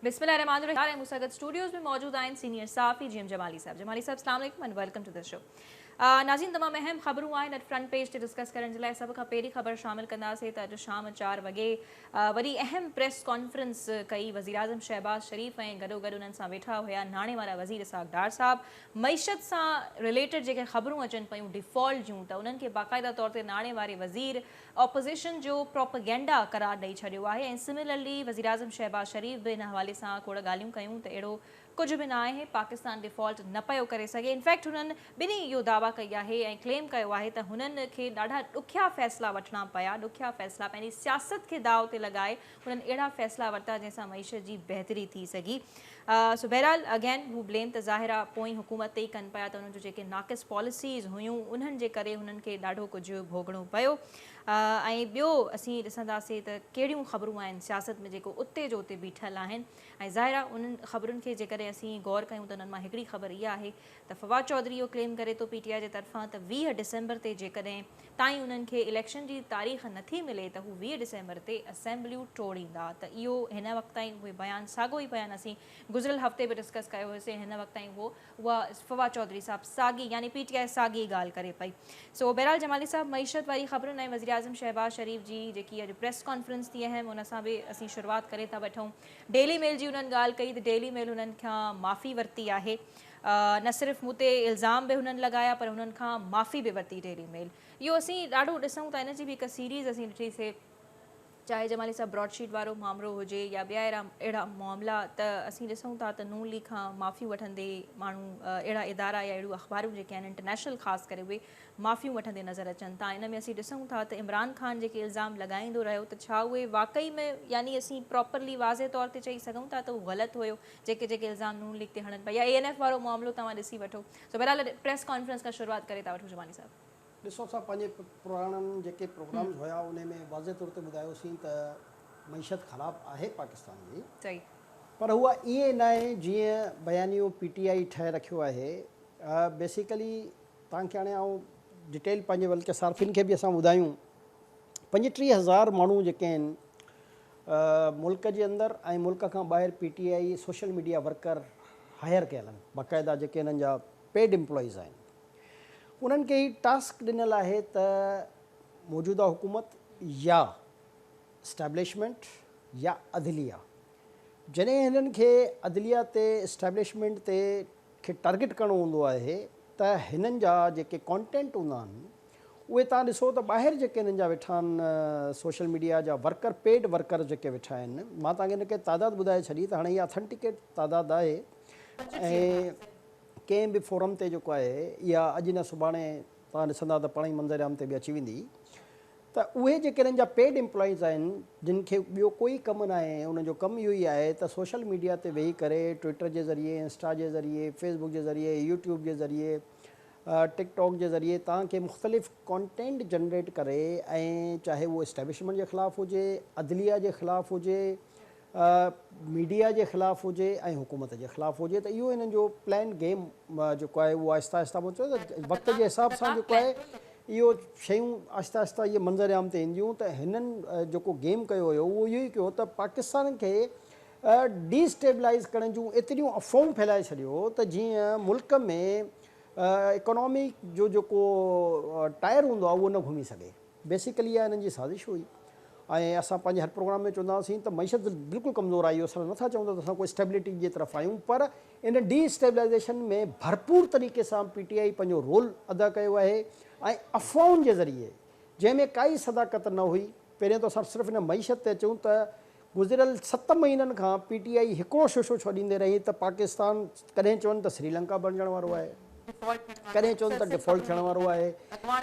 بسم الله الرحمان الرحيم ۽ مون سان گڏ اسٽوڊيوز ۾ موجود آهن سينيئر صحافي جي ايم جمالي صاحب جمالي صاحب اسلام عليڪم and welcome to this show ناظرين تمام اهم خبرون آهن اڄ فرنٽ پيج تي ڊسڪس ڪرڻ جي لاء سڀ کان پهرين خبر شامل ڪنداسين ته اڄ شام چار وڳي وڏي اهم پريس ڪانفرنس ڪئي وزيراعظم شهباز شريف ۽ گڏو گڏ انهن سان ويٺا هيا ناڻي وارا وزير اسحاق ڊار صاحب معيشت سان رليٽيڊ جيڪي خبرون اچن پيون ڊيفالٽ جون ته انهن کي باقاعده طور تي ناڻي واري وزير اپوزيشن جو پروپيگنڊا قرار ڏئي ڇڏيو آهي ۽ سميلرلي وزيراعظم شهباز شريف به ان حوالي سان کوڙ ڳالهيون ڪيون ته اهڙو ڪجهه به نه آهي پاڪستان ڊيفالٽ نه پيو ڪري سگهي انفيڪٽ هنن ٻنهي اهو دعويٰ ڪئي آهي ۽ ڪليم ڪيو آهي ته هنن کي ڏاڍا ڏکيا فيصلا وٺڻا پيا ڏکيا فيصلا پنهنجي سياست کي داء تي لڳائي انهن اهڙا فيصلا ورتا جنهن سان معيشت جي بهتري ٿي سگهي سو بهرحال اگين هو بليم ته ظاهر آهي پوئين حڪومت تي ئي ڪن پيا ته انهن جون جيڪي ناقص پاليسيز هيون انهن جي ڪري هنن کي ڏاڍو ڪجهه ڀوڳڻو پيو ۽ ٻيو اسين ڏسنداسين ته ڪهڙيون خبرون آهن سياست ۾ جيڪو اتي جو اتي بيٺل آهن ۽ ظاهر آهي انهن خبرن کي جيڪڏهن اسين غور ڪيون ته انهن مان هڪڙي خبر اها آهي ته فواد چوڌري اهو ڪليم ڪري ٿو پي ٽي آء جي طرفان ته ويهه ڊسمبر تي جيڪڏهن تائين انهن کي اليڪشن جي تاريخ نه ٿي ملي ته هو ويهه ڊسمبر تي اسيمبليون ٽوڙيندا ته اهو هن وقت تائين اهي بيان ساڳو ئي بيان اسين گذريل هفتي به ڊسڪس ڪيو هيوسين هن وقت تائين اهو اها فواد چوڌري صاحب ساڳي يعني پي ٽي آء ساڳي ڳالهه ڪري پئي سو بهرحال جمالي صاحب معيشت واري خبرن ۽ وزيراعظم شهباز شريف جي جيڪي اڄ پريس ڪانفرنس ٿي اهم ان سان به اسين شروعات ڪري ٿا وٺون ڊيلي ميل جي انهن ڳالهه ڪئي ته ڊيلي ميل انهن کان معافي ورتي آهي نه صرف مون تي الزام به هنن لڳايا پر هنن کان معافي به ورتي ڊيلي ميل اهو اسين ڏاڍو ڏسون ٿا ان جي به هڪ سيريز اسين ڏٺي سي چاهي جمالي صاحب براڊ شيٽ وارو معاملو هجي يا ٻيا اهڙا اهڙا معاملا ته اسين ڏسون ٿا ته نون ليگ کان معافيون وٺندي ماڻهو اهڙا ادارا يا اهڙيون اخبارون جيڪي آهن انٽرنيشنل خاص ڪري اهي معافيون وٺندي نظر اچن ٿا ان ۾ اسين ڏسون ٿا ته عمران خان جيڪي الزام لڳائيندو رهيو ته ڇا اهي واقعي ۾ يعني اسين پراپرلي واضح طور تي چئي سگهون ٿا ته هو غلط هيو جيڪي جيڪي الزام نون ليگ تي هڻن پيا يا اي اين ايف وارو معاملو توهان ڏسي وٺو سو بهرحال پريس ڪانفرنس کان شروعات ڪري ٿا وٺون جماني صاحب. ڏسو اسان پنهنجي پراڻن جيڪي پروگرامز هيا انهي ۾ واضح طور تي ٻڌايو سين ته معيشت خراب آهي پاڪستان جي صحيح. پر اها ائين ناهي جيئن بيانيو پي ٽي آء ٺاهي رکيو آهي بيسيڪلي توهان کي هاڻي آئون ڊيٽيل پنهنجي بلڪه صارفين کي به اسان ٻڌايون پنجٽيهه هزار ماڻهو جيڪي آهن ملڪ جي اندر ۽ ملڪ کان ٻاهر P T I social media worker hire ڪيل آهن باقاعده جيڪي انهن جا پيڊ امپلائيز آهن انهن کي هي ٽاسڪ ڏنل آهي ته موجوده حڪومت يا اسٽيبلشمينٽ يا عدليه جڏهن هنن کي عدليه تي اسٽيبلشمينٽ تي کي ٽارگيٽ ڪرڻو هوندو آهي ته هنن جا جيڪي ڪانٽينٽ هوندا آهن اهي تهان ڏسو ته ٻاهر جيڪي انهن جا ويٺا آهن سوشل ميڊيا جا ورڪر پيڊ ورڪر جيڪي ويٺا آهن مان تهان کي هن ڪي تعداد ٻڌائي ڇڏي ته هاڻي هي آٿنٽيڪيٽ تعداد آهي ۽ ڪنهن به فورم تي جيڪو آهي اها اڄ نه سڀاڻي تهان ڏسندا ته پاڻهي منظر عام تي به اچي ويندي ته اهي جيڪي انهن جا پيڊ امپلائيز آهن جن کي ٻيو ڪوئي ڪم ناهي انهن جو ڪم اهو ئي آهي ته سوشل ميڊيا تي ويهي ڪري ٽوئيٽر جي ذريعي انسٽا جي ذريعي فيس بڪ جي ذريعي يوٽيوب جي ذريعي ٽڪ ٽاڪ جي ذريعي توهان کي مختلف ڪانٽينٽ جنريٽ ڪري ۽ چاهي اهو اسٽيبلشمينٽ جي خلاف هجي، عدليه جي خلاف هجي، ميڊيا جي خلاف هجي ۽ حڪومت جي خلاف هجي ته اهو هنن جو پلان گيم جيڪو آهي اهو آهستي آهستي مون چيو ته وقت جي حساب سان جيڪو آهي اهو شيون آهستي آهستي اهي منظر عام تي اينديون ته هنن جيڪو گيم ڪيو هيو اهو اهو ئي ڪيو ته پاڪستان کي ڊي اسٽيبلائيز ڪرڻ جون ايتريون افواهون ڦهلائي ڇڏيو ته جيئن ملڪ ۾ اڪانامي جو جيڪو ٽائر هوندو آهي اهو نه گهمي سگهي بيسيڪلي اها هنن جي سازش هئي ۽ اسان پنهنجي هر پروگرام ۾ چوندا هئاسين ته معيشت بلڪل ڪمزور آئي اسان نٿا چون ته اسان ڪو اسٽيبلٽي جي طرف آهيون پر ان ڊي اسٽيبلائيزيشن ۾ ڀرپور طريقي سان پي ٽي آئي پنهنجو رول ادا ڪيو آهي ۽ افواهن جي ذريعي جنهن ۾ ڪائي صداقت نه هئي پهريان ته اسان صرف ان معيشت تي اچون ته گذريل ست مهينن کان پي ٽي آء هڪڙو ششو ڇڏيندي رهي ته پاڪستان ڪڏهن چون ته سريلنڪا بڻجڻ وارو آهي ڪڏهن چون ته ڊفالٽ ٿيڻ وارو آهي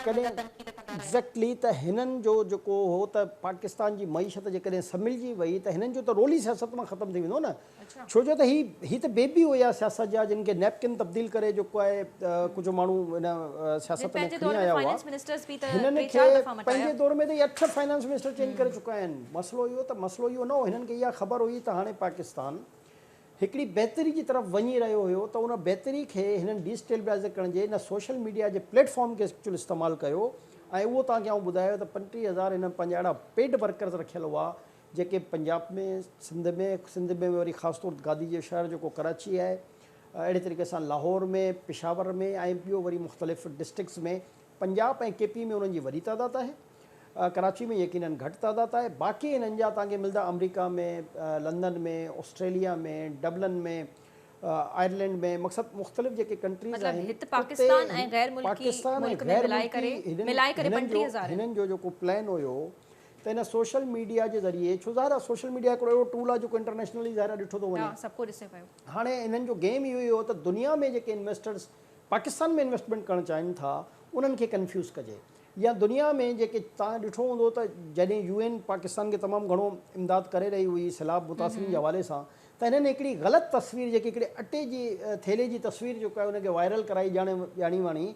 ڪڏهن ايگزيڪٽلي ته هنن جو جيڪو هو ته پاڪستان جي معيشت جيڪڏهن سملجي وئي ته هنن جو ته رول ئي سياست مان ختم ٿي ويندو نه ڇو جو ته هي هي ته بيبي هيا سياست جا جن کي نيپڪن تبديل ڪري جيڪو آهي ڪجهه ماڻهو هن سياست ۾ کڻي آيا هئا هنن کي پنهنجي دور ۾ ته هي اٺ فائنانس منسٽر چينج ڪري چڪا آهن مسئلو اهو ته مسئلو اهو نه هو هنن کي اها خبر هئي ته هاڻي پاڪستان هڪڙي بهتري جي طرف وڃي رهيو هيو ته ان بهتري کي هنن ڊي اسٽيبلائيز ڪرڻ جي ان سوشل ميڊيا جي پليٽ فارم کي ايڪچوئل استعمال ڪيو ۽ اهو توهان کي آئون ٻڌايو ته پنٽيهه هزار هنن پنهنجا اهڙا پيڊ ورڪرز رکيل هئا جيڪي پنجاب ۾ سنڌ ۾ سنڌ ۾ وري خاص طور تي گادي جو شهر جيڪو ڪراچي آهي اهڙي طريقي سان لاهور ۾ پشاور ۾ ۽ ٻيو وري مختلف ڊسٽرڪس ۾ پنجاب ۽ ڪي پي ۾ انهن جي وڏي تعداد آهي ڪراچي ۾ يقينن گهٽ تعداد آهي باقي انهن جا تان کي ملدا آمريڪا ۾ لندن ۾ آسٽريليا ۾ ڊبلن ۾ آئرلينڊ ۾ مقصد مختلف جيڪي ڪنٽريز آهن مطلب پاڪستان ۽ غير ملڪي ملڪ ۾ ملائي ڪري ملائي ڪري 25000 هنن جو جيڪو پلان هيو ته هن سوشل ميڊيا جي ذريعي ڇو ظاهر آهي سوشل ميڊيا هڪڙو اهڙو ٽول آهي جيڪو انٽرنيشنلي ظاهر آهي ڏٺو ٿو وڃي ها سڀ ڪو ڏسي پيو. هاڻي انهن جو گيم اهو ئي هو ته دنيا ۾ جيڪي انويسٽرز پاڪستان ۾ انويسٽمينٽ ڪرڻ چاهين ٿا انهن کي ڪنفيوز ڪجي يا دنيا ۾ جيڪي توهان ڏٺو هوندو ته جڏهن يو اين پاڪستان کي تمام گهڻو امداد ڪري رهي هئي سيلاب متاثرين جي حوالي سان ته هنن هڪڙي غلط تصوير جيڪي هڪڙي اٽي جي ٿيلهي جي تصوير جيڪا آهي ان کي وائرل ڪرائي ڄاڻي ڄاڻي واڻي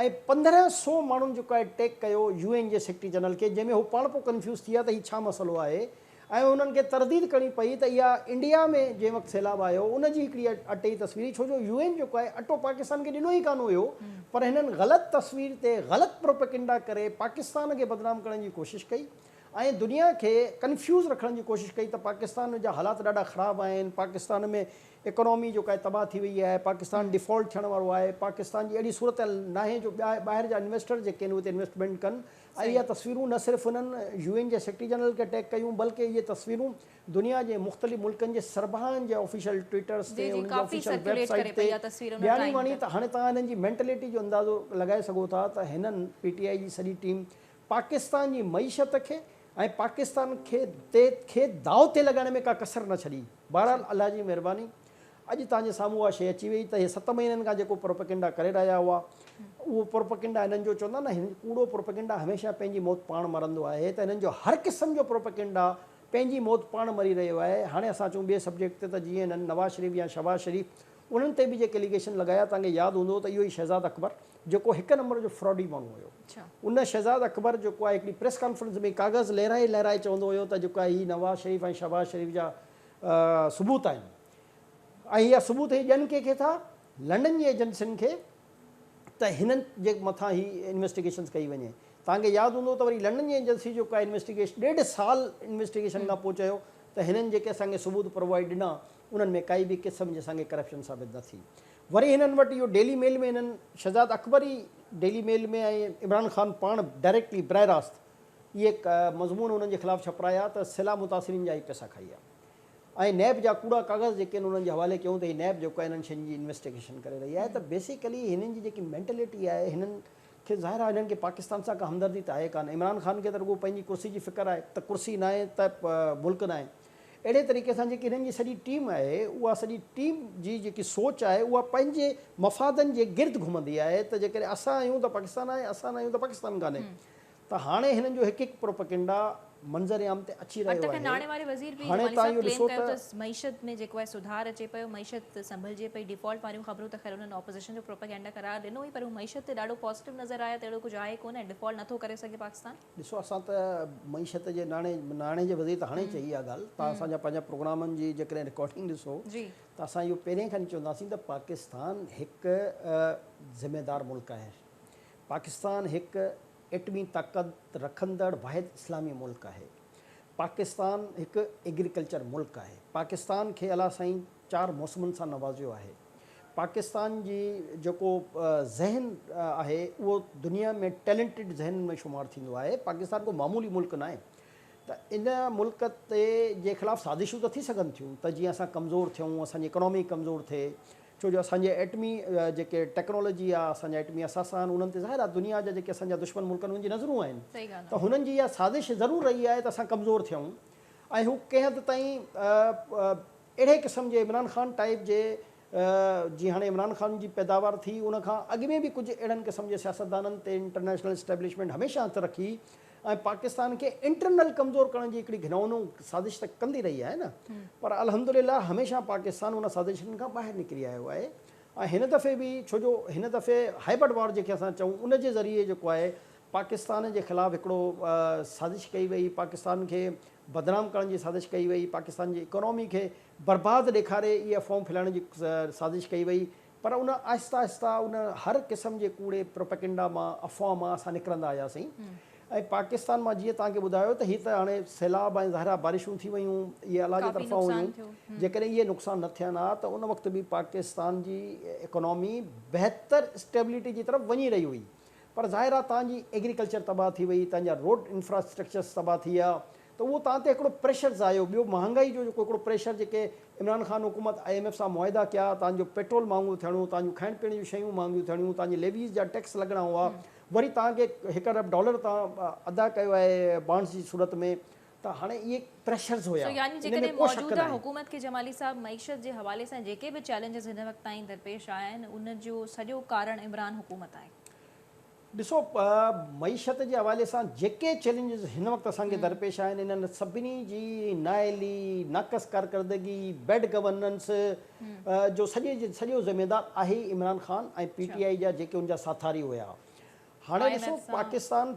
۽ پندرهن سو ماڻهن جيڪو آهي ٽيڪ ڪيو يو اين جي سيڪريٽري جنرل کي جنهن ۾ هو پاڻ پو ڪنفيوز ٿي ويا ته هي ڇا مسئلو آهي ۽ انهن کي ترديد ڪرڻي پئي ته اها انڊيا ۾ جنهن وقت سيلاب آيو ان جي هڪڙي اٽي تصوير هئي ڇو جو يو اين جيڪو آهي اٽو پاڪستان کي ڏنو ئي ڪانه هيو پر هنن غلط تصوير تي غلط پروپيڪنڊا ڪري پاڪستان کي بدنام ڪرڻ جي ڪوشش ڪئي ۽ دنيا کي ڪنفيوز رکڻ جي ڪوشش ڪئي ته پاڪستان جا حالات ڏاڍا خراب آهن پاڪستان ۾ اڪانومي جيڪا آهي تباهه ٿي وئي آهي پاڪستان ڊيفالٽ ٿيڻ وارو آهي پاڪستان جي اهڙي صورتحال ناهي جو ٻيا ٻاهر جا انويسٽر جيڪي آهن اتي انويسٽمينٽ ڪن ۽ اهي تصويرون نه صرف هنن يو اين جي سيڪريٽري جنرل کي ٽيگ ڪيون بلڪه اهي تصويرون دنيا جي مختلف ملڪن جي سربراهن جي آفيشل ٽوئيٽرز تي انهن جي آفيشل ويب سائيٽ تي ٻياڻي واڻي ته هاڻي توهان هنن جي مينٽليٽي جو اندازو لڳائي سگهو ٿا ته هنن پي ٽي آئي جي سڄي ٽيم پاڪستان جي معيشت کي ۽ پاڪستان کي تي کي داء تي لڳائڻ ۾ ڪا ڪسر نه ڇڏي. بهرحال الله جي مهرباني اڄ توهان جي سامهون اها شيء اچي وئي ته هي ست مهينن کان جيڪو پروپيگنڊا ڪري رهيا هئا اهو پروپيگنڊا هنن جو چوندا نه هن ڪوڙو پروپيگنڊا هميشه پنهنجي موت پاڻ مرندو آهي ته هنن جو هر قسم جو پروپيگنڊا پنهنجي موت پاڻ مري رهيو آهي هاڻي اسان اچون ٻئي سبجيڪٽ تي ته جيئن هنن نواز شريف يا شهباز شريف انهن تي به جيڪي اليگيشن لڳايا توهان کي ياد هوندو ته اهو ئي شهزاد اڪبر جيڪو هڪ نمبر جو فراڊي ماڻهو هيو. ان شهزاد اڪبر جيڪو آهي هڪڙي پريس ڪانفرنس ۾ ڪاغذ لهرائي لهرائي چوندو هيو ته جيڪو آهي هي نواز شريف ۽ شهباز شريف جا ثبوت آهن ۽ اها ثبوت هي ڏين ڪنهن کي ٿا لنڊن جي ايجنسين کي ته هنن جي مٿان هي انويسٽيگيشنز ڪئي وڃي توهان کي ياد هوندو ته وري لنڊن جي ايجنسي جيڪو آهي انويسٽيگيشن ڏيڍ سال انويسٽيگيشن کان پوء چيو ته هنن جيڪي اسان کي ثبوت پرووائيڊ ڏنا انهن ۾ ڪائي به قسم جي اسان کي ڪرپشن ثابت نه ٿي وري هنن وٽ اهو ڊيلي ميل ۾ هنن شھزاد اڪبر ئي ڊيلي ميل ۾ ۽ عمران خان پاڻ ڊائريڪٽلي براھ راست اهي مضمون انهن جي خلاف ڇپرايا ته سيلاب متاثرين جا ئي پيسا کائي ويا ۽ نيب جا ڪوڙا ڪاغذ جيڪي آهن انهن جي حوالي ڪيون ته هي نيب جيڪو آهي انهن شين جي انويسٽيگيشن ڪري رهي آهي ته بيسيڪلي هنن جي جيڪي مينٽليٽي آهي هنن کي ظاهر آهي هنن کي پاڪستان سان ڪا همدردي ته آهي ڪانه عمران خان کي ته رڳو پنهنجي ڪرسي جي فڪر آهي ته ڪرسي ناهي ته ملڪ ناهي. اهڙي طريقي سان جيڪي هنن جي سڄي ٽيم آهي اها سڄي ٽيم جي جيڪي سوچ آهي اها پنهنجي مفادن جي گرد گهمندي آهي ته جيڪڏهن اسان آهيون ته پاڪستان آهي اسان نه آهيون ته پاڪستان ڪانهي ته هاڻي هنن جو هڪ هڪ پروپيگنڊا منظر عام تي اچي رهيو آهي ناڻي واري وزير پير جمالي صاحب ڪليم ڪيو ته معيشت ۾ جيڪو آهي سڌار اچي پيو معيشت سنڀلجي پئي ڊيفالٽ واريون خبرون ته خير انهن آپوزيشن جو پروپيگنڊا قرار ڏنو هئي پر هو معيشت تي ڏاڍو پازيٽو نظر آيا ته اهڙو ڪجهه آهي ڪونه ۽ ڊيفالٽ نٿو ڪري سگهي پاڪستان ڏسو اسان ته معيشت جي ناڻي ناڻي جي وزير ته هاڻي چئي اها ڳالهه تان اسان جا پنهنجا پروگرامن جي جيڪڏهن رڪارڊنگ ڏسو ته اسان اهو پهرين کان ئي چونداسين ته پاڪستان هڪ ذميدار ملڪ آهي پاڪستان هڪ ايٽمي طاقت رکندڙ واحد اسلامي ملڪ آهي پاڪستان هڪ ايگريڪلچر ملڪ آهي پاڪستان کي الا سائين چار موسمن سان نوازيو آهي. پاڪستان جي جيڪو ذهن آهي اهو دنيا ۾ ٽيلنٽيڊ ذهنن ۾ شمار ٿيندو آهي. پاڪستان ڪو معمولي ملڪ ناهي ته ان ملڪ تي جي خلاف سازشون ته ٿي سگهن ٿيون ته جيئن اسان ڪمزور ٿيون اسان جي اڪنامي ڪمزور ٿئي ڇو جو اسان جي ايٽمي جيڪي ٽيڪنالوجي آهي اسان جا ايٽمي اثاثا آهن انهن تي ظاهر آهي دنيا جا جيڪي اسان جا دشمن ملڪ آهن انهن جي نظرون آهن ته هنن جي اها سازش ضرور رهي آهي ته اسان ڪمزور ٿيون ۽ هو ڪنهن حد تائين اهڙي قسم جي عمران خان ٽائيپ جي جي هاڻي عمران خان جي پيداوار ٿي ان کان اڳ ۾ به ڪجهه اهڙن قسم جي سياستدانن تي انٽرنيشنل اسٽيبلشمينٽ هميشه هٿ رکي ۽ پاڪستان کي انٽرنل ڪمزور ڪرڻ جي هڪڙي گهنئونو سازش ته ڪندي رهي آهي نه پر الحمدلله هميشه پاڪستان ان سازشن کان ٻاهر نڪري آيو آهي ۽ هن دفعي به ڇو جو هن دفعي هائبرڊ وار جنهن کي اسان چئون ان جي ذريعي جيڪو آهي پاڪستان جي خلاف هڪڙو سازش ڪئي وئي، پاڪستان کي بدنام ڪرڻ جي سازش ڪئي وئي، پاڪستان جي اڪانومي کي برباد ڏيکاري اها فوم ڦهلائڻ جي سازش ڪئي وئي پر ان آهسته آهسته ان هر قسم جي ڪوڙي پروپيگنڊا مان افواهه مان اسان نڪرندا آياسين ۽ پاڪستان مان جيئن توهان کي ٻڌايو ته هي ته هاڻي سيلاب ۽ ظاهر آهي بارشون ٿي ويون اهي الله جي طرفان هيون جيڪڏهن اهي نقصان نه ٿين ها ته ان وقت به پاڪستان جي اڪانومي بهتر اسٽيبلٽي جي طرف وڃي رهي هئي. پر ظاهر آهي تان جي ايگريڪلچر تباهه ٿي وئي، تان جا روڊ انفراسٽرڪچرس تباهه ٿي ويا ته اهو تان تي هڪڙو پريشرز آيو، ٻيو مهانگائي جو جيڪو هڪڙو پريشر جيڪي عمران خان حڪومت آء ايم ايف سان معاهدا ڪيا، تان جو پيٽرول مهانگو ٿيڻو، تان جون کائڻ پيئڻ جون شيون مهانگيون ٿيڻيون، تان جي ليويز جا ٽيڪس لڳڻا هئا، وري تان کي هڪ ارب ڊالر تان ادا ڪيو آهي بانڊز جي صورت ۾ ته هاڻي اهي پريشرز هيا. سو يعني جيڪڏهن موجوده حڪومت کي جمالي صاحب معيشت جي حوالي سان جيڪي به چئلينجز هن وقت تائين درپيش آيا آهن ان جو سڄو ڪارڻ عمران حڪومت آهي. ڏسو معيشت جي حوالي سان جيڪي چئلينجز هن وقت اسان کي درپيش آهن انهن سڀني جي نااهلي، ناقص ڪارڪردگي، بيڊ گورننس جو سڄي جو سڄو ذميدار آهي Imran Khan ۽ P T I جا جيڪي ان جا ساٿاري هيا. هاڻي ڏسو پاڪستان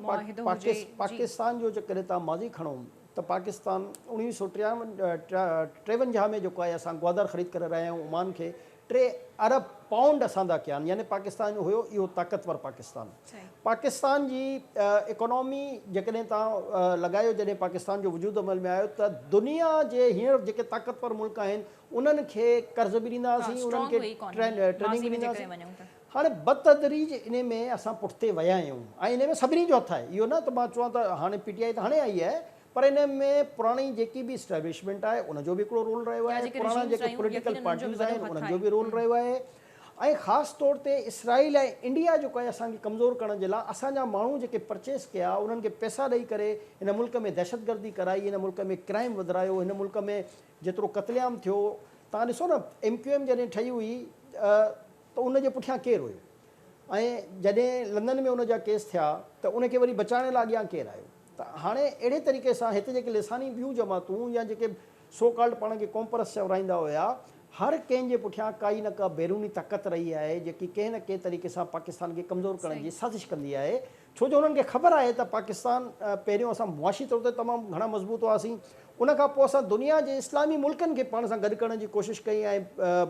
پاڪستان جو جيڪڏهن توهان ماضي کڻو ته پاڪستان اوڻويهه سؤ ٽيونجاهه ۾ جيڪو آهي اسان گوادر خريد ڪري رهيا آهيون عمان کي ٽي ارب پائونڊ اسان دا ڪيا آهن يعني پاڪستان جو هيو اهو طاقتور پاڪستان پاڪستان جي اڪانومي جيڪڏهن توهان لڳايو جڏهن پاڪستان جو وجود عمل ۾ آيو ته دنيا جي هينئر جيڪي طاقتور ملڪ آهن انهن کي قرض به ڏيندا هئاسين انهن کي ٽريننگ به ڏيندا هئاسين هاڻي بتدريج انهي ۾ اسان پٺتي ويا آهيون ۽ انهي ۾ سڀني جو هٿ آهي. اهو نه ته مان چوان ته هاڻي پي ٽي آء ته هاڻي آئي آهي پر انهي ۾ پراڻي جيڪي به اسٽيبلشمينٽ آهي ان جو به هڪڙو رول رهيو يا آهي، جيڪي پراڻا ريجيمز جيڪي رهيون پوليٽيڪل يقينن انهن جو به پارٽيز وڏو آهن هٿ انهن جو آهي. به رول رهيو آهي ۽ خاص طور تي اسرائيل ۽ انڊيا جيڪو آهي اسان کي ڪمزور ڪرڻ جي لاء اسان جا ماڻهو جيڪي پرچيز ڪيا انهن کي پئسا ڏئي ڪري هن ملڪ ۾ دهشتگردي ڪرائي هن ملڪ ۾ ڪرائيم وڌرايو هن ملڪ ۾ جيترو قتل عام ٿيو تهان ڏسو نه ايم ڪيو ايم جڏهن ٺهي هئي ته ان جي پٺيان ڪير هيو ۽ جڏهن لندن ۾ ان جا ڪيس ٿيا ته ان کي وري بچائڻ لاء اڳيان ڪير آيو ته هاڻي اهڙي طريقي سان هت جيڪي لساني ٻيون جماعتون يا جيڪي سو ڪالڊ پاڻ کي ڪونپرس چورائيندا هيا هر ڪنهن جي پٺيان ڪائي نه ڪا بيروني طاقت رهي آهي جيڪي ڪنهن نه ڪنهن طريقي سان پاڪستان کي ڪمزور ڪرڻ جي سازش ڪندي آهي ڇو جو انهن کي خبر آهي ته پاڪستان پهريون اسان معاشي طور تي تمام گهڻا مضبوط هئاسين ان کان پوء اسان دنيا جي اسلامي ملڪن کي پاڻ سان گڏ ڪرڻ جي ڪوشش ڪئي ۽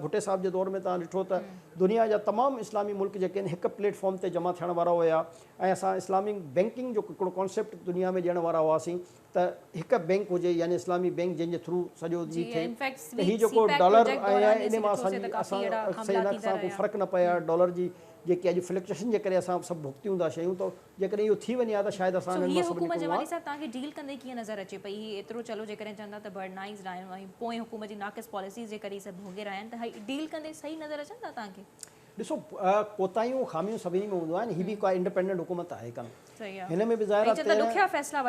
ڀٽي صاحب جي دور ۾ توهان ڏٺو ته دنيا جا تمام اسلامي ملڪ جيڪي آهن هڪ پليٽ فارم تي جمع ٿيڻ وارا هيا ۽ اسان اسلامي بينڪنگ جو هڪڙو ڪانسيپٽ دنيا ۾ ڏيڻ وارا هئاسين ته هڪ بينڪ هجي يعني اسلامي بينڪ جنهن جي ٿرو سڄو جي ٿئي ته هي جيڪو ڊالر ۽ ان مان اسان جي اسان سين لاک سان ڪو فرق نه پئي ها ڊالر جي جيڪي اڄ فلڪچيشن جي ڪري اسان سڀ ڀگتيون ٿا شيون ته جيڪڏهن اهو ٿي وڃي ها ته شايد اسان انهن مان سڀ نڪرون ها. صاحب توهان کي ڊيل ڪندي ڪيئن نظر اچي پئي هي ايترو چلو جيڪڏهن چون ٿا ته برڊنائيزڊ آهيون ۽ پوئين حڪومت جي ناقص پاليسيز جي ڪري سڀ ڀوڳي رهيا آهن ته هي ڊيل ڪندي صحيح نظر اچن ٿا توهان کي؟ ڏسو ڪوتاهيون خاميون سڀني ۾ هونديون آهن هي به ڪا انڊپينڊنٽ حڪومت آهي ڪانه هن ۾ به ظاهر آهي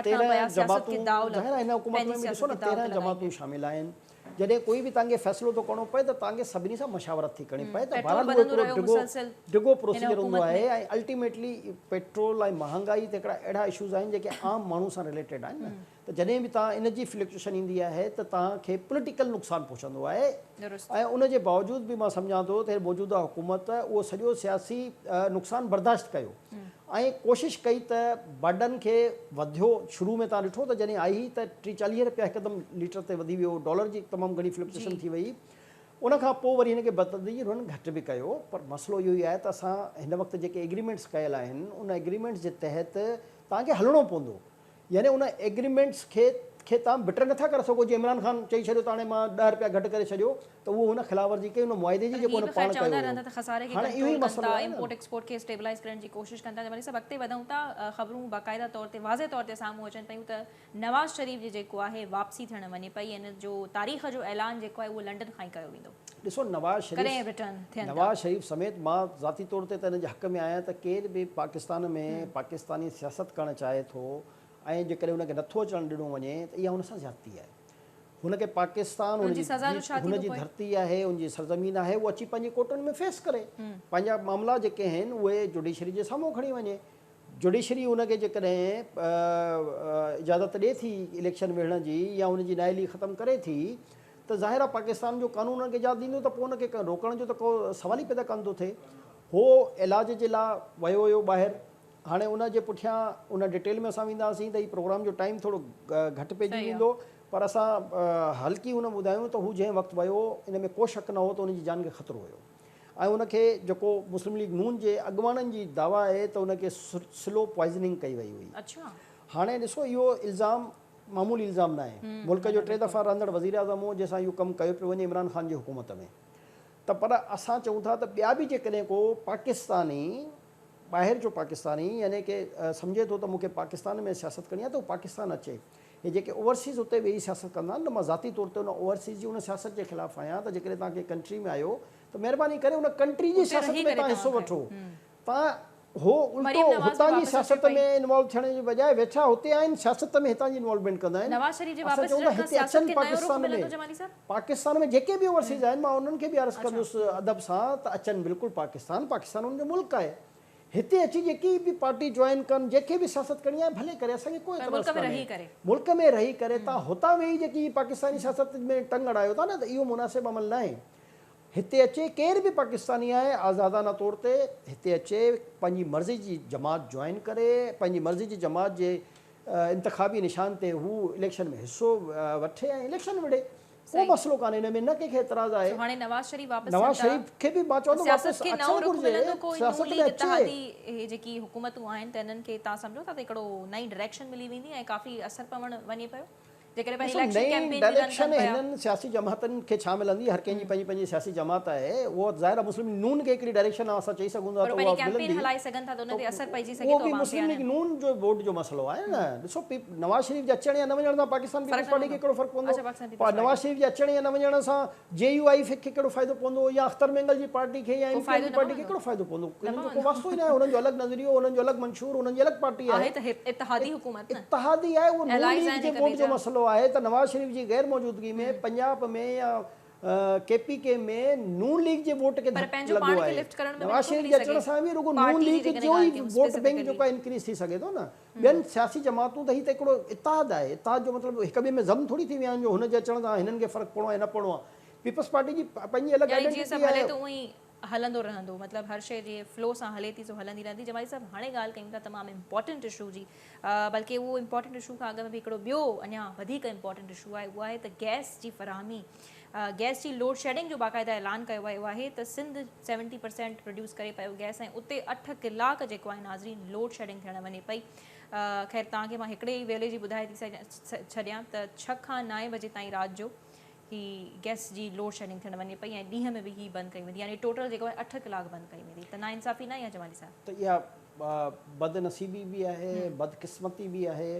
تيرنهن جماعتون ظاهر آهي هن حڪومت ۾ به ڏسو نه تيرنهن جماعتون شامل آهن جڏهن ڪوئي به تهانکي فيصلو ٿو ڪرڻو پوي ته تهانکي سڀني سان مشاورت ٿي ڪرڻي پوي ته بهرحال اهو هڪڙو ڊگهو ڊگهو پروسيجر هوندو آهي ۽ الٽيميٽلي پيٽرول ۽ مهانگائي ته هڪڙا اهڙا اشوز آهن جيڪي عام ماڻهو سان رليٽيڊ آهن نه ته جڏهن به توهان ان جي فلڪچوئشن ايندي آهي ته توهان کي پوليٽيڪل نقصان پهچندو آهي ۽ ان جي باوجود به مان سمجهان ٿو ته موجوده حڪومت اهو سڄو سياسي نقصان برداشت ڪيو ۽ ڪوشش ڪئي ته بائڊن کي وڌيو شروع ۾ توهان ڏٺو ته جڏهن آئي هئي ته ٽي چاليهه رپيا هڪدم ليٽر تي وڌي ويو ڊالر جي تمام گهڻي فلڪچوئشن ٿي وئي ان کان پوء وري هن کي بتدريج هنن گهٽ به ڪيو پر مسئلو اهو ئي آهي ته اسان هن وقت جيڪي ايگريمينٽس ڪيل آهن ان ايگريمينٽس جي تحت توهان کي هلڻو پوندو يعني ان ايگريمينٽس کي کي توهان بٽر نه ٿا ڪري سگهو جي عمران خان چئي ڇڏيو ته هاڻي مان ڏهه رپيا گهٽ ڪري ڇڏيو ته اهو هن خلاف ورزي ڪئي ان معاهدي جي پر جيڪو هي هن به خير پاڻ چوندا ڪيو رهندا هيو ته خساري کي هاڻي اهو ڪنٽرول ئي ڪن مسئلو ٿا، آهي نه امپورٽ ايڪسپورٽ کي اسٽيبلائيز ڪرڻ جي ڪوشش ڪن ٿا ته وري سڀ اڳتي وڌون ٿا خبرون باقاعده طور تي واضح طور تي سامهون اچن پيون ته نواز شريف جي جيڪو آهي واپسي ٿيڻ وڃي پئي ۽ ان جو تاريخ جو اعلان جيڪو آهي اهو لنڊن کان ئي ڪيو ويندو. ڏسو نواز شريف ڪڏهن رٽرن ٿين ٿا. نواز شريف سميت مان ذاتي طور تي ته ان جي حق ۾ آهيان ته ڪير به پاڪستان ۾ پاڪستاني سياست ڪرڻ چاهي ٿو ۽ جيڪڏهن ان کي نٿو اچڻ ڏنو وڃي ته اها ان سان زيادتي آهي هن کي پاڪستان هن ان جي سزا جو ڇا ٿيندو هن جي پوء؟ ڌرتي آهي هن جي سرزمين آهي هو اچي پنهنجي ڪورٽن ۾ فيس ڪري پنهنجا معاملا جيڪي آهن اهي جوڊيشري جي سامهون کڻي وڃي جوڊيشري ان کي جيڪڏهن اجازت ڏئي ٿي اليڪشن وڙهڻ جي يا ان جي نااهلي ختم ڪري ٿي ته ظاهر آهي پاڪستان جو قانون ان کي اجازت ڏيندو ته پوء ان کي روڪڻ جو ته ڪو سوال ئي پيدا ڪانه ٿو ٿئي. هو علاج جي لا ويو هيو ٻاهر. هاڻي ان جي پٺيان ان ڊيٽيل ۾ اسان وينداسين ته هي پروگرام جو ٽائيم ٿورو گهٽ پئجي ويندو پر اسان هلڪي هن ٻڌايون ته هو جنهن وقت ويو ان ۾ ڪو شڪ نه هو ته ان جي جان کي خطرو هيو. ۽ ان کي جيڪو مسلم ليگ نون جي اڳواڻن جي دعويٰ آهي ته ان کي سلو پوائزننگ ڪئي وئي هئي. هاڻي ڏسو اهو الزام معمولي الزام ناهي. ملڪ جو ٽي دفعا رهندڙ وزيراعظم هو جنهن سان اهو ڪم ڪيو پيو وڃي عمران خان جي حڪومت ۾ ته پر اسان چئون ٿا ته ٻيا به جيڪڏهن ڪو پاڪستاني ٻاهر جو پاڪستاني يعني ڪي سمجهي ٿو ته مون کي پاڪستان ۾ سياست ڪرڻي آهي ته هو پاڪستان اچي هي جيڪي اوورسيز اتي ويهي سياست ڪندا آهن ته مان ذاتي طور تي ان اوورسيز جي ان سياست جي خلاف آهيان ته جيڪڏهن توهان ڪنهن ڪنٽري ۾ آهيو ته مهرباني ڪري ان ڪنٽري جي سياست ۾ توهان حصو وٺو توهان هو الٽو هتان جي سياست ۾ انوالو ٿيڻ جي بجاء ويٺا هتي آهن سياست ۾ هتان جي انوالومينٽ ڪندا آهن اسان چئون ٿا هتي اچن پاڪستان ۾ پاڪستان ۾ جيڪي به اوورسيز آهن مان انهن کي به عرض ڪندس ادب سان ته اچن بلڪل پاڪستان پاڪستان انهن جو ملڪ آهي هتي اچي جيڪي به پارٽي جوائن ڪن، جنهن کي به سياست ڪرڻي آهي ڀلي ڪري، اسان کي ڪو پر ملڪ اعتراض ۾ ڪانهي. رهي ڪري. ملڪ ۾ رهي ڪري تان هتان ويهي جيڪي هي پاڪستاني سياست ۾ ٽنگ اڙايو ٿا نه ته اهو مناسب عمل ناهي. هتي اچي ڪير به پاڪستاني آهي آزادانه طور تي هتي اچي پنهنجي مرضي جي جماعت جوائن ڪري، پنهنجي مرضي جي جماعت جي انتخابي نشان تي هو اليڪشن ۾ حصو وٺي ۽ اليڪشن وڙهي. ڪو مسئلو ڪانهي ان ۾ نه ڪنهن کي اعتراض آهي. نواز شريف کي به مان چوندو واپس اچڻ گهرجي سياست ۾ اچي. نئين ڊائريڪشن هنن سياسي جماعتن کي ڇا ملندي هر ڪنهن جي پنهنجي پنهنجي سياسي جماعت آهي اهو ظاهر آهي مسلم ليگ نون کي هڪڙي ڊائريڪشن اسان چئي سگهون ٿا ته اها ملندي اهو به مسلم ليگ نون جو ووٽ جو مسئلو آهي نه ڏسو نواز شريف جي اچڻ يا نه وڃڻ سان پاڪستان پيپلز پارٽي کي ڪهڙو فرق پوندو؟ نواز شريف جي اچڻ يا نه وڃڻ سان جي يو آئي کي ڪهڙو فائدو پوندو يا اختر مينگل جي پارٽي کي يا ايم ڪيو ايم جي پارٽي کي ڪهڙو فائدو پوندو؟ انهن جو ڪو واسطو ئي ناهي، انهن جو الڳ نظريو، انهن جو الڳ منشور، انهن جي الڳ پارٽي آهي. اتحادي آهي، اهو نون ليگ جي ووٽ جو مسئلو آهي ته نواز شريف جي غير موجودگي ۾ پنجاب ۾ يا ڪي پي ڪي ۾ نون ليگ جي ووٽ کي ڌڪ لڳو آهي. نواز شريف جي اچڻ سان به رڳو نون ليگ جو ئي ووٽ بئنڪ جيڪو آهي انڪريز ٿي سگهي ٿو نه. ٻين سياسي جماعتون ته هي ته هڪڙو اتحاد آهي، اتحاد جو مطلب هڪ ٻئي ۾ ضم ٿوري ٿي ويا آهن جو هن جي اچڻ سان هنن کي فرق پوڻو آهي يا نه پوڻو آهي. پيپلز پارٽي جي پنهنجي الڳ يعني جيئن سڀ آئيڊنٽيٽي هلي آهي. ٿو اونئين هلندو رهندو مطلب هر شئي جيئن فلو سان هلي ٿي سو هلندي رهندي. جمالي صاحب هاڻي ڳالهه ڪيون ٿا تمام امپارٽنٽ اشو جي بلڪه اهو امپارٽنٽ اشو کان اڳ ۾ به هڪڙو ٻيو اڃا وڌيڪ امپارٽنٽ اشو آهي اهو آهي ته گئس جي فراهمي گئس جي لوڊ شيڊنگ جو باقاعده اعلان ڪيو ويو آهي ته سنڌ سيونٽي پرسينٽ پروڊيوس ڪري پيو گئس ۽ اتي اٺ ڪلاڪ جيڪو آهي ناظرين لوڊ شيڊنگ ٿيڻ وڃي پئي خير توهان کي مان هڪڙي ئي ويلي جي ٻڌائي ٿي ڇڏيان ته ڇهه کان نائين بجي تائين رات جو هي گئس جي لوڊ شيڊنگ ٿيڻ وڃي پئي ۽ ڏينهن ۾ به هي بند ڪئي ويندي يعني ٽوٽل جيڪو آهي اٺ ڪلاڪ بند ڪئي ويندي ته نا انصافي ناهي يا جمالي صاحب ته اها بد نصيبي به آهي بد قسمتي به آهي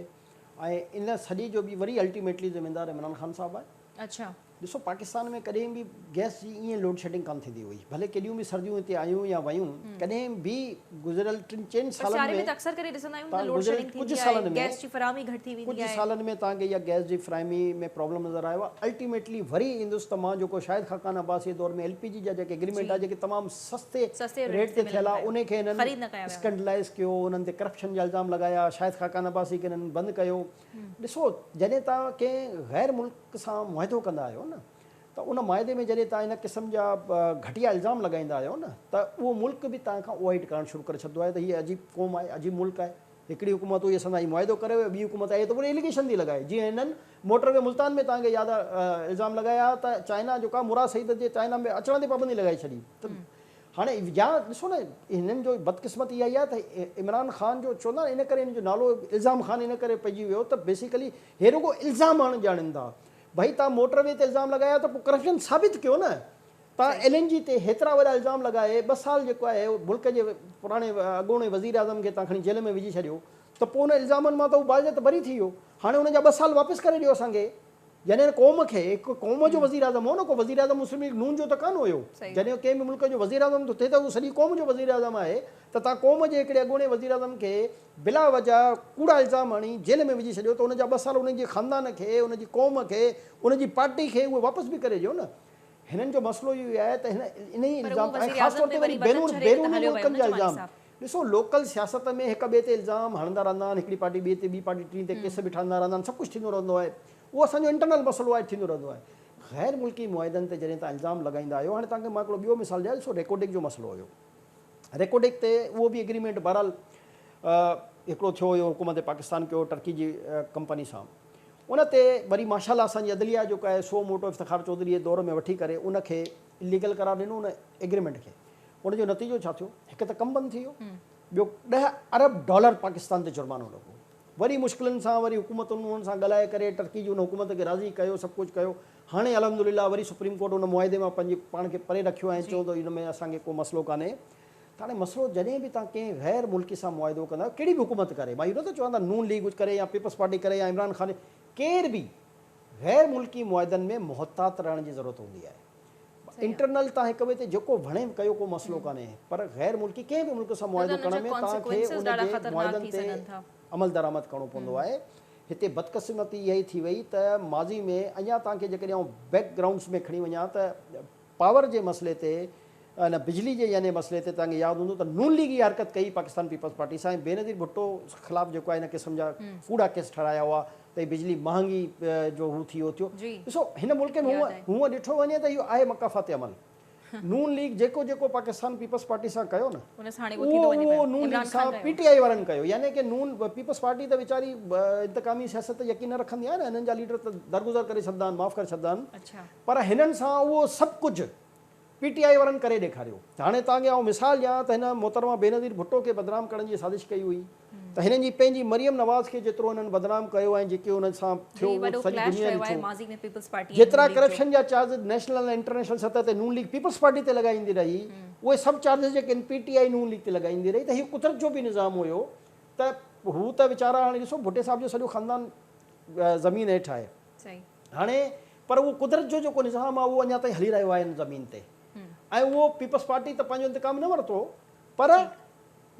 ۽ ان سڄي جو به وري الٽيميٽلي ذميوار عمران خان صاحب آهي اڇا. ڏسو پاڪستان ۾ ڪڏهن به گئس جي ائين لوڊ شيڊنگ ڪانه ٿيندي هئي ڀلي ڪيڏيون به سرديون هتي آيون يا ويون ڪڏهن به گذريل ٽن چئن پر سالن سياري ۾ ته اڪثر ڪري ڏسندا آهيون ته لوڊ شيڊنگ ٿيندي آهي گئس جي فراهمي گهٽ ٿي ويندي آهي. ڪجهه سالن ۾ توهان کي اها گئس جي فراهمي ۾ پرابلم نظر آيو آهي الٽيميٽلي وري ايندس ته مان جيڪو شاهد خاقان عباسي جي دور ۾ ايل پي جي جا جيڪي اگريمينٽ آهي جيڪي تمام سستي سستي ريٽ ريٽ تي تي ٿيل ملن آهي پيا انهي کي هنن خريد نه ڪيا ويا هئا. اسڪنڊلائز ڪيو انهن تي ڪرپشن جا الزام لڳايا شاهد خاقان عباسي کي هنن بند ڪيو ڏسو جڏهن توهان ڪنهن غير ملڪ سان معاهدو ڪندا آهيو نه ته ان معاهدي ۾ جڏهن توهان ان قسم جا گهٽيا الزام لڳائيندا آهيو نه ته اهو ملڪ به توهان کان اوهائي ٽڪرائڻ شروع ڪري ڇڏندو آهي ته هي عجيب قوم آهي عجيب ملڪ آهي هڪڙي حڪومت هئي اسان سان هي معاهدو ڪري ويو ٻي حڪومت آئي ته وري اليگيشن ٿي لڳائي جيئن هنن موٽر وي ملتان ۾ توهان کي ياد آهي الزام لڳايا ها ته چائنا جيڪا مراد سعيد جي چائنا ۾ اچڻ تي پابندي لڳائي ڇڏي ته هاڻي جا ڏسو نه هنن جو بدقسمتي اها ئي آهي ته عمران خان جو چوندا آهن ان ڪري هن جو نالو الزام خان ان ڪري پئجي ويو ته بيسيڪلي هي رڳو الزام هڻ ڄاڻين ٿا ڀئي تان موٽر وي تي الزام لڳايا ته پوء ڪرپشن ثابت ڪيو نه تان ايل اين جي تي هيترا وڏا الزام لڳائي ٻه سال جيڪو آهي ملڪ جي پراڻي اڳوڻي وزير اعظم کي تان کڻي جيل ۾ وجهي ڇڏيو ته پوء ان الزامن مان ته هو باعزت بري ٿي ويو هاڻي ان جا ٻه سال واپس ڪري ڏيو اسان کي جڏهن قوم کي هڪ قوم جو وزيراعظم هو نه ڪو وزيراعظم مسلم ليگ نون جو ته ڪانه هيو جڏهن ڪنهن به ملڪ جو وزيراعظم ٿو ٿئي ته اهو سڄي قوم جو وزيراعظم آهي ته تان قوم جي هڪڙي اڳوڻي وزيراعظم کي بلا وجه ڪوڙا الزام هڻي جيل ۾ وجهي ڇڏيو ته ان جا ٻه سال ان جي خاندان کي ان جي قوم کي ان جي پارٽي کي اهي واپس به ڪري ڏيو نه هنن جو مسئلو اهو ئي آهي ته هن انهي الزام ۽ خاص طور تي وري بيروني ملڪن جا الزام ڏسو لوڪل سياست ۾ هڪ ٻئي تي الزام هڻندا رهندا آهن هڪڙي پارٽي ٻئي تي ٻي پارٽي ٽين تي ڪيس به ٺهندا رهندا آهن سڀ ڪجهه ٿيندو رهندو آهي اهو اسان جو انٽرنل مسئلو آهي ٿيندو رهندو آهي غير ملڪي معاهدن تي جڏهن تان الزام لڳائيندا آهيو هاڻي تهان کي مان هڪڙو ٻيو مثال ڏيان ڏسو ريڪوڊڪ جو مسئلو هيو ريڪوڊڪ تي اهو به اگريمينٽ بهرحال هڪڙو ٿيو هيو حڪومت پاڪستان ڪيو ٽرڪي جي ڪمپني سان ان تي وري ماشاءالله اسان جي عدليه جو ڪاهي سو موٽو افتخار چوڌري جي دور ۾ وٺي ڪري ان کي اليگل قرار ڏنو ان اگريمينٽ کي ان جو نتيجو ڇا ٿيو؟ هڪ ته ڪم بند ٿي ويو، ٻيو ڏهه ارب ڊالر پاڪستان تي جرمانو لڳو. وري مشڪلن سان وري حڪومتن انهن سان ڳالهائي ڪري ٽرڪي جي ان حڪومت کي راضي ڪيو، سڀ ڪجهه ڪيو. هاڻي الحمدلله وري سپريم ڪورٽ ان معاهدي مان پنهنجي پاڻ کي پري رکيو ۽ چيو ته ان ۾ اسان کي ڪو مسئلو ڪانهي. ته هاڻي مسئلو جڏهن به توهان ڪنهن غير ملڪي سان معاهدو ڪندا آهيو، ڪهڙي به حڪومت ڪري، مان اهو نٿو چوان ته نون ليگ ڪري يا پيپلز پارٽي ڪري يا عمران خان، ڪير به غير ملڪي معاهدن ۾ محتاط رهڻ جي ضرورت هوندي آهي. انٽرنل تان هڪ ٻئي تي جيڪو وڻي ڪيو ڪو مسئلو ڪانهي پر غير ملڪي ڪنهن به ملڪ سان معاهدو ڪرڻ ۾ توهان کي ان جي معاهدن تي عملدرآمد ڪرڻو پوندو آهي هتي بدقسمتي اها ئي ٿي وئي ته ماضي ۾ اڃا توهان کي جيڪڏهن آئون بيڪ گرائونڊس ۾ کڻي وڃان ته پاور جي مسئلي تي ان بجلي جي يعني مسئلي تي توهان کي ياد هوندو ته نون ليگ اها حرڪت ڪئي پاڪستان پيپلز پارٽي سان ۽ بينظير ڀٽو خلاف جيڪو آهي ان قسم جا ڪوڙا ڪيس ٺهرايا هئا تي بجلي مهانگي جو هو ٿي اوتيو ڏسو هن ملڪ ۾ هون هونء ڏٺو وڃي ته اهو آهي مڪافاتي عمل نون ليگ جيڪو جيڪو پاڪستان پيپلز پارٽي سان ڪيو نه اهو اهو نون ليگ سان پي ٽي آئي وارن ڪيو يعني ڪي نون پيپلز پارٽي ته ويچاري انتقامي سياست تي يقين نه رکندي آهي نه هنن جا ليڊر ته درگذر ڪري ڇڏندا آهن معاف ڪري ڇڏندا آهن پر هنن سان اهو سڀ ڪجهه پي ٽي آء وارن ڪري ڏيکاريو ته هاڻي توهان کي آئون مثال ڏيان ته هن محترمه بينظير ڀٽو کي بدنام ڪرڻ جي سازش ڪئي هئي ته هنن جي پنهنجي مريم نواز کي جيترو هنن بدنام ڪيو ۽ جيڪي هن سان ٿيو اهو ته سڄي دنيا ڏٺو جيترا ڪرپشن جا چارجز نيشنل ۽ انٽرنيشنل سطح تي نون ليگ پيپلز پارٽي تي لڳائيندي رهي اهي سڀ چارجز جيڪي هن پي ٽي آء نون ليگ تي لڳائيندي رهي ته هي قدرت جو به نظام هيو ته هو ته ويچارا هاڻي ڏسو ڀٽي صاحب جو سڄو خاندان زمين هيٺ آهي. هاڻي پر اهو قدرت جو جيڪو نظام آهي اهو اڃا تائين هلي رهيو آهي ان زمين تي ۽ اهو پيپلز پارٽي ته پنهنجو انتقام نه ورتو پر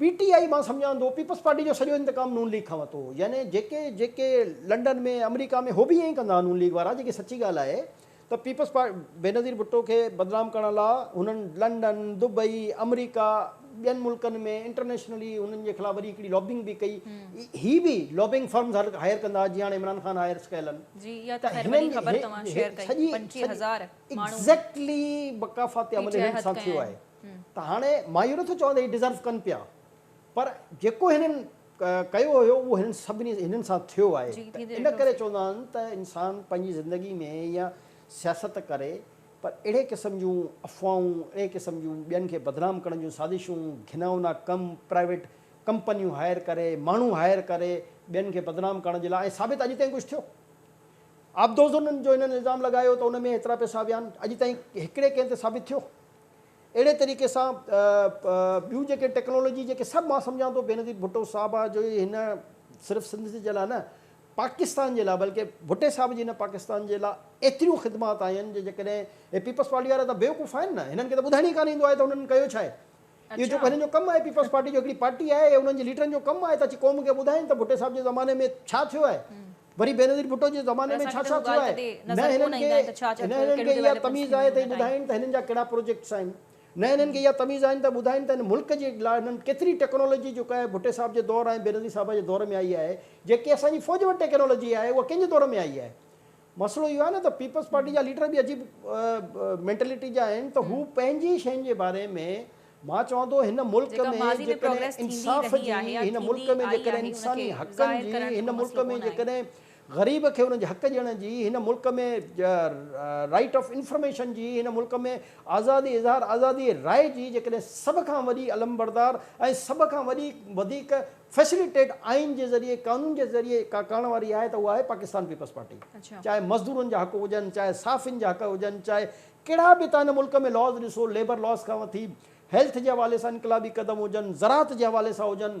پي ٽي آئي مان سمجهان ٿو پيپلز پارٽي جو سڄو انتقام نون ليگ کان ورتو يعني جيڪي جيڪي لنڊن ۾ آمريڪا ۾ هو به ائين ڪندا نون ليگ وارا جيڪي سچي ڳالهه آهي ته پيپلز پارٽي بينظير ڀٽو کي بدنام ڪرڻ لاء هنن لنڊن دبئي آمريڪا ٻين ملڪن ۾ انٽرنيشنلي هنن جي خلاف وڏي هڪڙي لابنگ به ڪئي هي به لابنگ فرمز هر هائير ڪندا جيئن هاڻي عمران خان هائيرس ڪيل آهن جي اها ته خير وڏي خبر توهان شيئر ڪئي سڄي پنجٽيهه هزار ماڻهو ايگزيڪٽلي وقافاتي پي عمل ٽي آء هنن هٿ سان ٿيو ڪيا آهي آهن ته هاڻي مان اهو نٿو چوان ته هي ڊزرو ڪن پيا پر جيڪو هنن ڪيو هيو اهو هنن سڀني هنن سان ٿيو آهي جي ته ٿيندي ان ڏٺوسي ڪري چوندا آهن ته انسان پنهنجي زندگي ۾ يا سياست ڪري پر اهڙي قسم جون افواهون، اهڙي قسم جون ٻين کي بدنام ڪرڻ جون سازشون، گهناونا ڪم، پرائيويٽ ڪمپنيون هائير ڪري، ماڻهو هائير ڪري ٻين کي بدنام ڪرڻ جي لاء ۽ ثابت اڄ تائين ڪجهه ٿيو؟ عابدوزن جو هنن الزام لڳايو ته ان ۾ هيترا پئسا ويا آهن، اڄ تائين هڪڙي ڪنهن تي ثابت ٿيو؟ اهڙي طريقي سان ٻيون جيڪي ٽيڪنالاجي جيڪي سڀ مان سمجهان ٿو بينظير ڀٽو صاحب آ جو هن صرف سنڌ جي لاء نه پاڪستان جي لاء بلڪه ڀٽي صاحب جي نه پاڪستان جي لاء ايتريون خدمات آهن جو جيڪڏهن هي پيپلز پارٽي وارا ته بيوقوف آهن نه هنن کي ته ٻڌائڻ ئي ڪانه ايندو آهي ته هنن ڪيو ڇا آهي اهو جيڪو هنن جو ڪم آهي پيپلز پارٽي جو هڪڙي پارٽي آهي هنن جي ليڊرن جو ڪم آهي ته اچي قوم کي ٻڌائين ته ڀٽي صاحب جي زماني ۾ ڇا ٿيو آهي وري بينظير ڀٽو جي زماني ۾ ڇا ڇا ٿيو آهي نه هنن کي نه هنن کي اها تميز آهي ته هي ٻڌائين ته هنن جا ڪهڙا پروجيڪٽس آهن. نه هنن کي اها تميز آهن ته ٻڌائين ته هن ملڪ جي لاء هنن ڪيتري ٽيڪنالاجي جيڪا آهي ڀٽي صاحب جي دور ۽ بينظير صاحبه جي دور ۾ آئي آهي جيڪي اسان جي فوج وٽ ٽيڪنالاجي آهي اها ڪنهن جي دور ۾ آئي آهي مسئلو اهو آهي نه ته پيپلز پارٽي جا ليڊر به عجيب مينٽلٽي جا آهن ته هو پنهنجي شين جي باري ۾ مان چوان ٿو هن ملڪ ۾ جيڪڏهن انصاف جي هن ملڪ ۾ جيڪڏهن انساني حقن جي هن ملڪ ۾ جيڪڏهن غريب کي ان جي حق ڏيڻ جي هن ملڪ ۾ رائيٽ آف انفرميشن جي هن ملڪ ۾ آزادي اظهار آزادي راء جي جيڪڏهن سڀ کان وڏي علمبردار ۽ سڀ کان وڏي وڌيڪ فيسليٽيٽ آئين جي ذريعي قانون جي ذريعي ڪا ڪرڻ واري آهي ته اها آهي پاڪستان پيپلز پارٽي چاهي مزدورن جا حق هجن چاهي صحافين جا حق هجن چاهي ڪهڙا به تان هن ملڪ ۾ لاز ڏسو ليبر لاز کان وٺي هيلٿ جي حوالي سان انقلابي قدم هجن زراعت جي حوالي سان هجن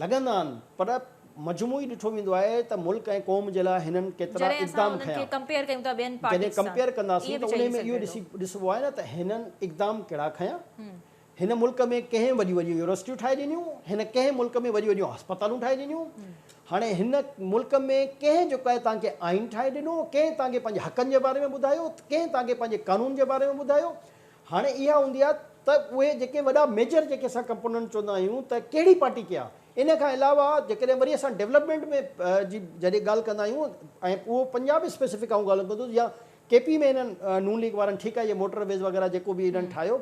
لڳندا آهن پر مجموعي ڏٺو ويندو آهي ته ملڪ ۽ قوم جي لاء هنن ڪيترا اقدام کنيا. جڏهن ڪمپيئر ڪنداسين ته انهي ۾ اهو ڏسبو آهي نه ته هنن اقدام ڪهڙا کنيا. هن ملڪ ۾ ڪنهن وڏيون وڏيون يونيورسٽيون ٺاهي ڏنيون، هن ڪنهن ملڪ ۾ وڏيون وڏيون هسپتالون ٺاهي ڏنيون، هاڻي هن ملڪ ۾ ڪنهن جو ڪنهن توهان کي آئين ٺاهي ڏنو، ڪنهن توهان کي پنهنجي حقن جي باري ۾ ٻڌايو، ڪنهن توهان کي پنهنجي قانون جي باري ۾ ٻڌايو، هاڻي اها هوندي آهي ته اهي جيڪي وڏا ميجر جيڪي اسان ڪمپوننٽ چوندا آهيون ته ڪهڙي پارٽي ڪيا ان کان علاوه جيڪڏهن وري اسان ڊيولپمينٽ ۾ جي جڏهن ڳالهه ڪندا آهيون ۽ اهو پنجاب اسپيسفڪ آئون ڳالهيون ڪندو يا ڪي پي ۾ هنن نون ليگ وارن ٺيڪ آهي اهي موٽر ويز وغيره جيڪو به هنن ٺاهيو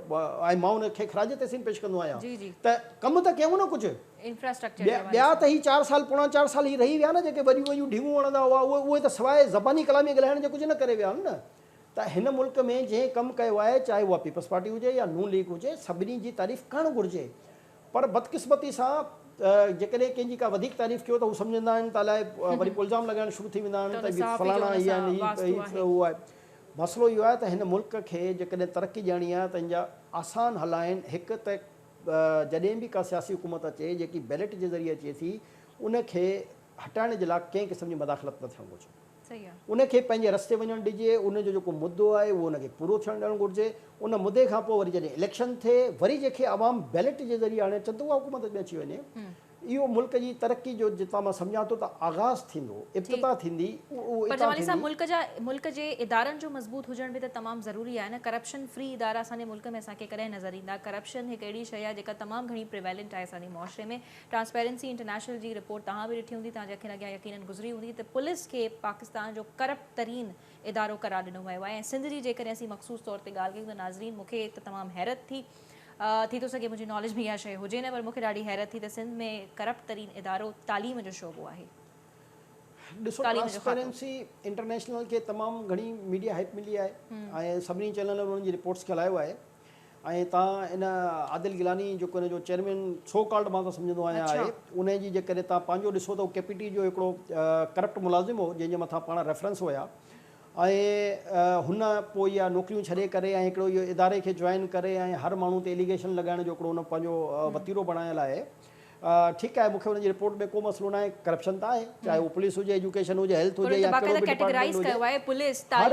۽ مان ان کي خراج تحسين پيش ڪندو آهيان ته ڪم ته ڪيون نه ڪجهه انفراسٽرڪچر جي حوالي سان ٻيا ته هي چار سال پوڻا چار سال هي رهي ويا نه جيڪي وڏيون وڏيون ڊيون هڻندا هئا اهي ته سواء زباني ڪلامي ڳالهائڻ جي ڪجهه نه ڪري ويا آهن نه ته هن ملڪ ۾ جنهن ڪم ڪيو آهي چاهي اها پيپلز پارٽي هجي يا نون ليگ هجي سڀني جي تعريف ڪرڻ گهرجي پر بدقسمتي سان جيڪڏهن ڪنهن جي ڪا وڌيڪ تعريف ڪيو ته هو سمجهندا آهن ته الائي وري پوء الزام لڳائڻ شروع ٿي ويندا آهن ته هي فلاڻا هي آهن هي اهو آهي مسئلو اهو آهي ته هن ملڪ کي جيڪڏهن ترقي ڏيڻي آهي ته ان جا آسان حل آهن هڪ ته جڏهن به ڪا سياسي حڪومت اچي جيڪي بيلٽ جي ذريعي اچي ٿي ان کي هٽائڻ جي لاء ڪنهن قسم جي مداخلت نه ٿيڻ گهرجي. ان کي پنهنجي رستي وڃڻ ڏجي، ان جو جيڪو مدو آهي اهو ان کي پورو ٿيڻ ڏيڻ گهرجي، ان مدي کان پوء وري جڏهن اليڪشن ٿئي، وري جنهن کي عوام بيلٽ جي ذريعي آڻي اچن ته اها حڪومت ۾ اچي وڃي، اهو ملڪ جي ترقي جو جتان مان سمجهان ٿو ته آغاز ٿيندو، ابتدا ٿيندي، اهو اتان ٿيندي. ملڪ جي ادارن جو مضبوط هجڻ به ته تمام ضروري آهي نه، ڪرپشن فري ادارا اسان جي ملڪ ۾ اسان کي ڪڏهن نظر ايندا، ڪرپشن هڪ اهڙي شيء آهي جيڪا تمام گهڻي پريويلنٽ آهي اسان جي معاشري ۾، ٽرانسپيرنسي انٽرنيشنل جي رپورٽ توهان به ڏٺي هوندي، توهان جي اکين اڳيان يقينن گذري هوندي ته پوليس کي پاڪستان جو ڪرپٽ ترين ادارو قرار ڏنو ويو آهي ۽ سنڌ جي جيڪڏهن اسين مخصوص طور تي ڳالهه ڪيون ته ناظرين مون کي ته تمام حيرت ٿي ٿي ٿو سگهي منهنجي ناليج ۾ اها شئي هجي نه پر مون کي ڏاڍي حيرت ٿي ته سنڌ ۾ ڪرپٽ ترين ادارو تعليم جو شعبو آهي. ڏسو ٽرانسپيرنسي انٽرنيشنل کي تمام گهڻي ميڊيا هائپ ملي آهي ۽ سڀني چينلن انهن جي رپورٽس کي هلايو آهي. ۽ توهان ان عادل گيلاني جيڪو هن جو چيئرمين سو ڪالڊ مان ته سمجهندو آهيان آهي انهي جي جيڪڏهن توهان پنهنجو ڏسو ته هو ڪي پي ٽي جو هڪڙو ڪرپٽ ملازم هو جنهن جي مٿان پاڻ ريفرنس هيا ۽ هن پوء اها نوڪريون ڇڏي ڪري ۽ هڪڙو اهو اداري کي جوائن ڪري ۽ هر ماڻهو تي اليگيشن لڳائڻ جو هڪڙو هن پنهنجو وتيرو بڻايل آهي ٺيڪ آهي مون کي ان جي رپورٽ ۾ ڪو مسئلو ناهي ڪرپشن ته آهي چاهي هو پوليس هجي ايجوڪيشن هجي هيلٿ هجي يا ڪهڙو به ڊپارٽمينٽ هجي هر